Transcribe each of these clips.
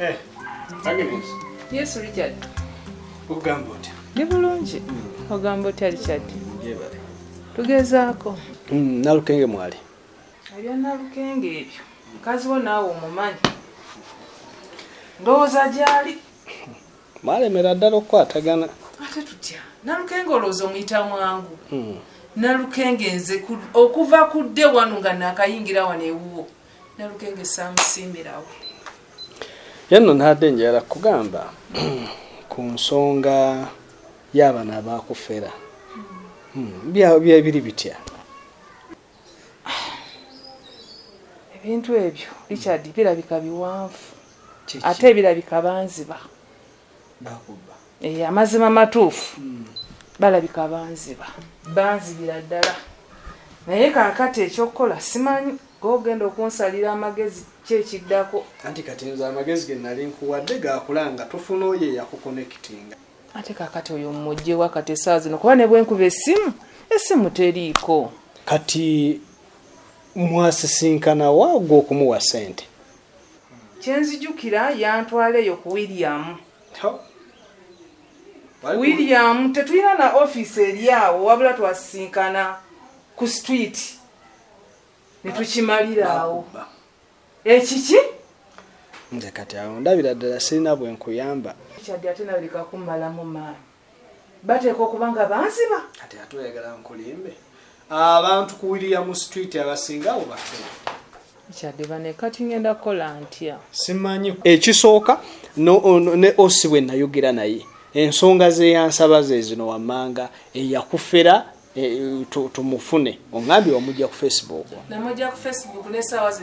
Eh, Agnes. Yes, Richard. Ogamba otya? Ndi bulungi. Hmm. Ogamba otya Richard? Njebale. Tugezaako. Mm, nalukenge mwali. Ebya nalukenge ebyo. Mukazi wo naawe omumanyi. Ndowooza gyali. Maalemera ddala okukwatagana. Ate tutya. Nalukenge olowooza omuyita mwangu. Hmm. Nalukenge nze okuva kudde wano nga nakayingira wano ewuwo. nalugenge samusiimirawo yenno ntadde njala kugamba ku nsonga y'abana abakufera hmm, byebiri bitya ebintu ebyo richard birabika biwanvu ate birabika banziba eh, amazima matuufu hmm. balabika banziba banzibira ddala naye kakati ekyokukola simanyi gogenda okunsalira amagezi kyekiddako anti kati nze amagezi genali nkuwadde gakulanga tufuna oyo eyakukonekitinga ate kakati oyo mujjewa kati esaa zino kuba nebwenkuba esimu esimu teriiko kati mwasisinkana waagwa okumuwa sente kyenzijukira yantwala eyo ku william william tetulina na office eryawo wabula twasisinkana ku street netukimaliraawo ekiki nze kati awo ndabira ddala sirina bwenkuyamba kyadde ate nabirikakumalamu maani bateeka okuba nga banziba kati ate oyagala nkulimbe abantu ku william street abasinga abo bafe kyadiba ne kati ngenda kukola ntya simanyi ekisooka ne osi bwe nayogera naye ensonga zeyansaba zezino wammanga eyakufera Eh, tumufune oŋambye wamujja ku facebook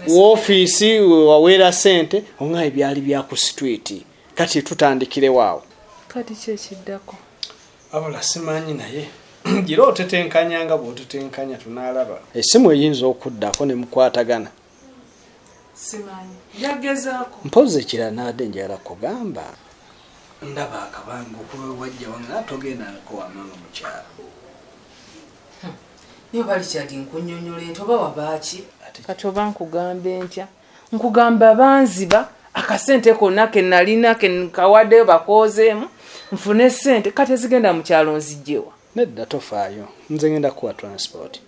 wofiisi waweera sente oŋa ebyali byaku situiti kati tutandikirewo awo kati kyekiddako abula simanyi naye gira otetenkanya nga bwotetenkanya tunalaba esimu eyinza okuddako nemukwatagana simanyi yagezaako mpozi ekira naade njala kugamba ndaba akabanga okuba wajja wanga togenda nkowamanga mukyalo niyo balikyadi nkunyonyola entoba wabaaki kati oba nkugambe ntya nkugamba banziba akasente konna kenalina kenkawaddeyo bakoozeemu nfune sente kati ezigenda mu kyalo nzijjewa nedda tofaayo nze ngenda kuwa transport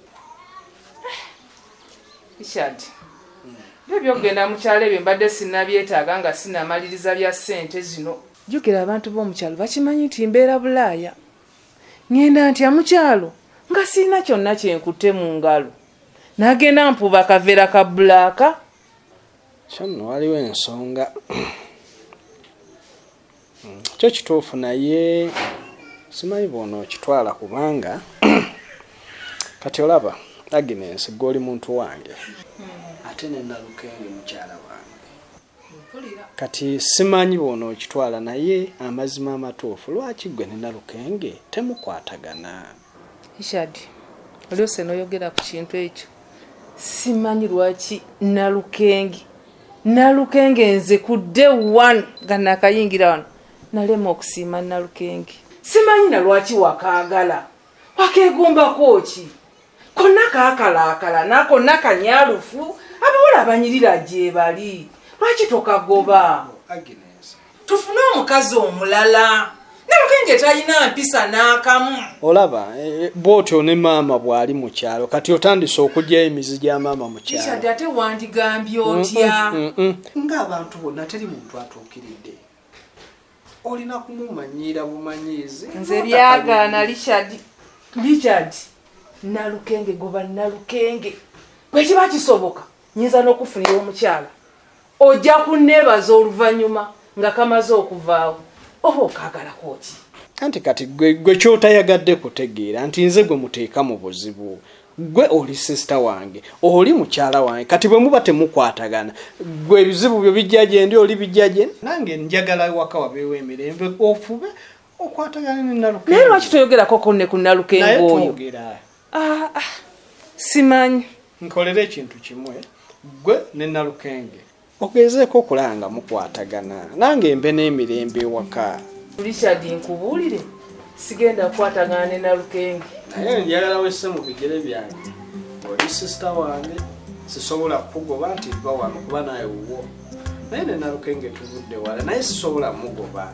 richard byo byokugenda mukyalo ebyo mbadde sinabyetaaga nga sinamaliriza bya sente zino jukira abantu b'omukyalo bakimanyi nti mbeera bulaaya Ngenda ntya mukyalo nga sirina kyonna kyenkutte mu ngalo nagenda mpuba akavera ka bulaaka kyono waliwo ensonga hmm, kyo kituufu naye simanyi bwona okitwala kubanga kati olaba agnes gwe oli muntu wange hmm. ate nenalukenge mukyala wange kati simanyi bwona okitwala naye amazima amatuufu lwaki gwe nina lukenge temukwatagana ishad olyose noyogera ku kintu ekyo simanyi lwaki nalukenge nalukenge nze ku day one nga nakayingira wano nalema okusiima nalukenge simanyi na lwaki wakaagala wakeegombako ki konna kakalaakala nakonna kanyalufu abawala abanyirira gyebali lwaki tokagoba tufune omukazi omulala nalukenge talina mpisa n'akamu olaba e, e, bwotyo ne maama bwali mu kyalo kati otandise okugyayo emizi gya maama mu kyalo ate wandigambye otya ngaabantu bonna teri muntu atuukiridde olina kumumanyiira bumanyiizi nze byagaana richard richard nalukenge goba nalukenge bwekiba kisoboka nyinza n'okufunira omukyala ojja kunneebaza oluvannyuma nga kamaze okuvaawo oba okaagalako ki anti kati gwe kyotayagadde kutegeera nti nze gwe muteeka mu buzibu gwe oli sisita wange oli mukyala wange kati bwe muba temukwatagana gwe ebizibu byo bijja gyendi oli bijja gyendi nange njagala ewaka wabeewo emirembe ofube okwatagana ne nalukengo naye lwaki toyogerako ko ne ku nalukengo oyo ah, ah, simanyi nkolera ekintu kimwe gwe ne nalukenge mugezeeko okulaba nga mukwatagana nange mbe n'emirembe ewaka richard nkubuulire sigenda kukwatagana ne nalukenge naye njagala wesse mu bigere byange oli sisita wange sisobola kukugoba nti va wano kuba naye wuwo naye ne nalukenge tuvudde wala naye sisobola mugoba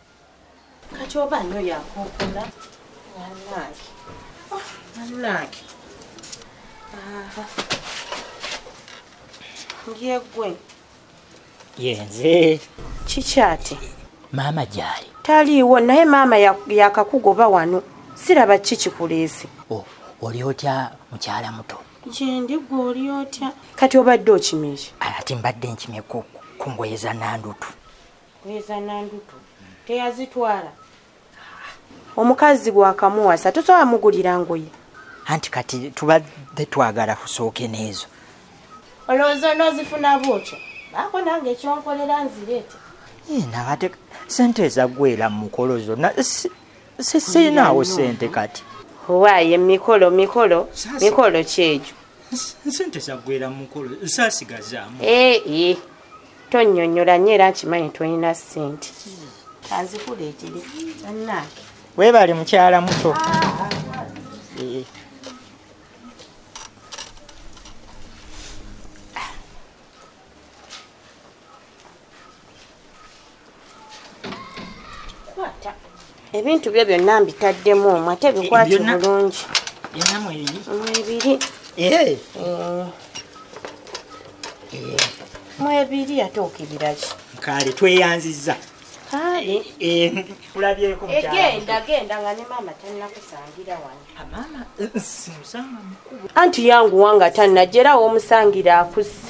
kati oba nyo yakokola nanange ah, nanange yegwe yenze kikyati maama gyali taliiwo naye maama yakakugoba wano siraba ki kikuleese oh, oli otya mukyala muto gyendi gwe oli otya kati obadde okimye ati mbadde nkimye ku ngoye za nandutu Kweza nandutu teyazitwala omukazi bwakamuwasa tosobola mugulira ngoye anti kati tubadde twagala kusooke n'ezo olowooza onoozifuna bwotyo baako nange ekyonkolera nzireete eh, nabate sente ezagwera mu mukolo zonna sisinaawo sente kati waaye mikolo mikolo mikolo kyegyo sente zagwera mu mukolo sasigazaamu eh, eh. tonyonyola nyo era nkimanyi tolina sente kanzikuleetere bannange weebale mukyala muto ah, eh. ebintu byo byonna mbitaddemu omu ate bikwati bulungi mwebiri eh. mwebiri ate okibiraki kale tweyanziza kulabyeko eh, eh, egenda genda nga ne maama tanakusangira wano anti yanguwa nga tanajerawo omusangira akuse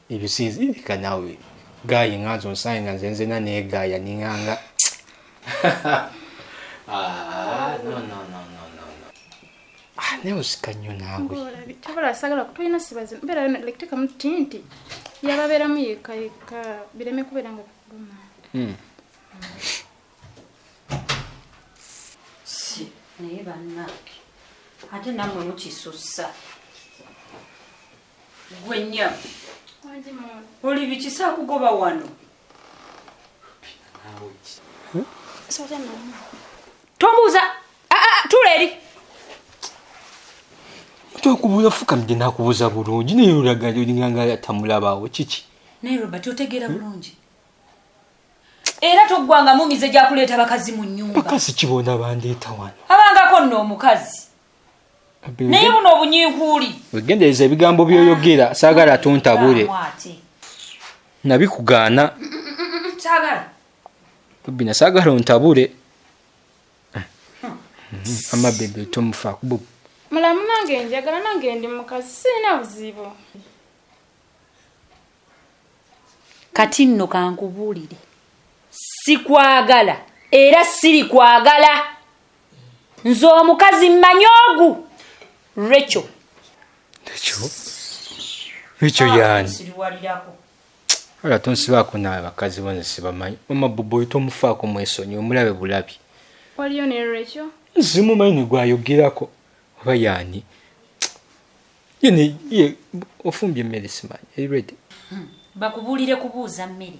ebyo sinzirika nawe gayi nga nze onsaye nga nze nzena negaya ninganga ah, ah, naye osika nnyo naweolasagala kutolina sibazi mbeera yona like tekamu tinti yababeeramu yeka yeka bireme kubeera nga kuluma hmm. naye banange ate namwe mukisussa gwe nya oli bikisa kugoba wano tomuuza tula eri tokubuuza fukamide nakubuuza bulungi naye olagayo olinganga yatamulabaawo kiki naye robert otegeera hmm? bulungi era toggwangamu mize gyakuleeta bakazi mu nyumba bakazi kibona bandeeta wano abangako nno omukazi naye buno obunyinkuuli wegendereza ebigambo byoyogera ah, saagala tontabule nabikugaana bina saagala ontabule amabebe tomufa kubu mulamu nange njagala nange ndi mukazi sirina buzibu kati nno kankubuulire sikwagala era sirikwagala nze omukazi mmanyi ogu rekyo rekyo rekyo ah, yani wala tonsibaako naawe bakazi bo nze sibamanyi mama bobo oyo tomufaako mwesonyi omulabe bulabi waliyo ne rekyo nzimumanyi negwayogerako oba yani yene ye ofumbye emmere simanyi eri redi hmm. bakubuulire kubuuza mmere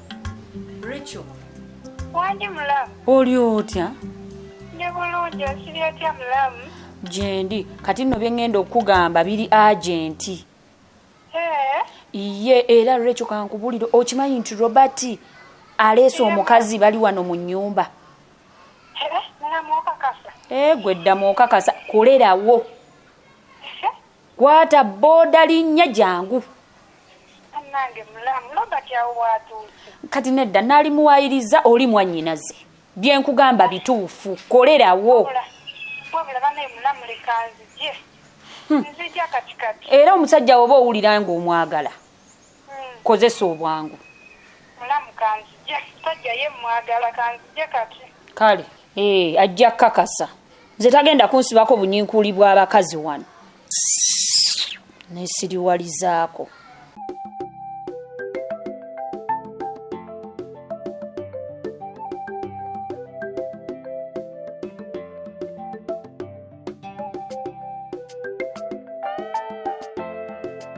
Rachel. Wandi mulamu. Oli otya? Ndi bulungi osiri otya mulamu? Gyendi kati nno bye ngenda okukugamba biri agenti. Eh? Iye era Rachel kankubulire okimanyi nti Robert aleese omukazi bali wano mu nnyumba. Eh? Mulamu okakasa. Eh gwe ddamu okakasa kolerawo. kwata boda linnya jangu kati nedda naali muwayiriza oli mwannyinaze byenkugamba bituufu kolerawo hmm. era omusajja woba owulira ngaomwagala hmm. kozesa obwangu mulamu kanzije tojja ye mwagala kanzije kati kale ee eh, ajja kakasa nze tagenda kunsibako bunyinkuli bw'abakazi wano nesiriwalizaako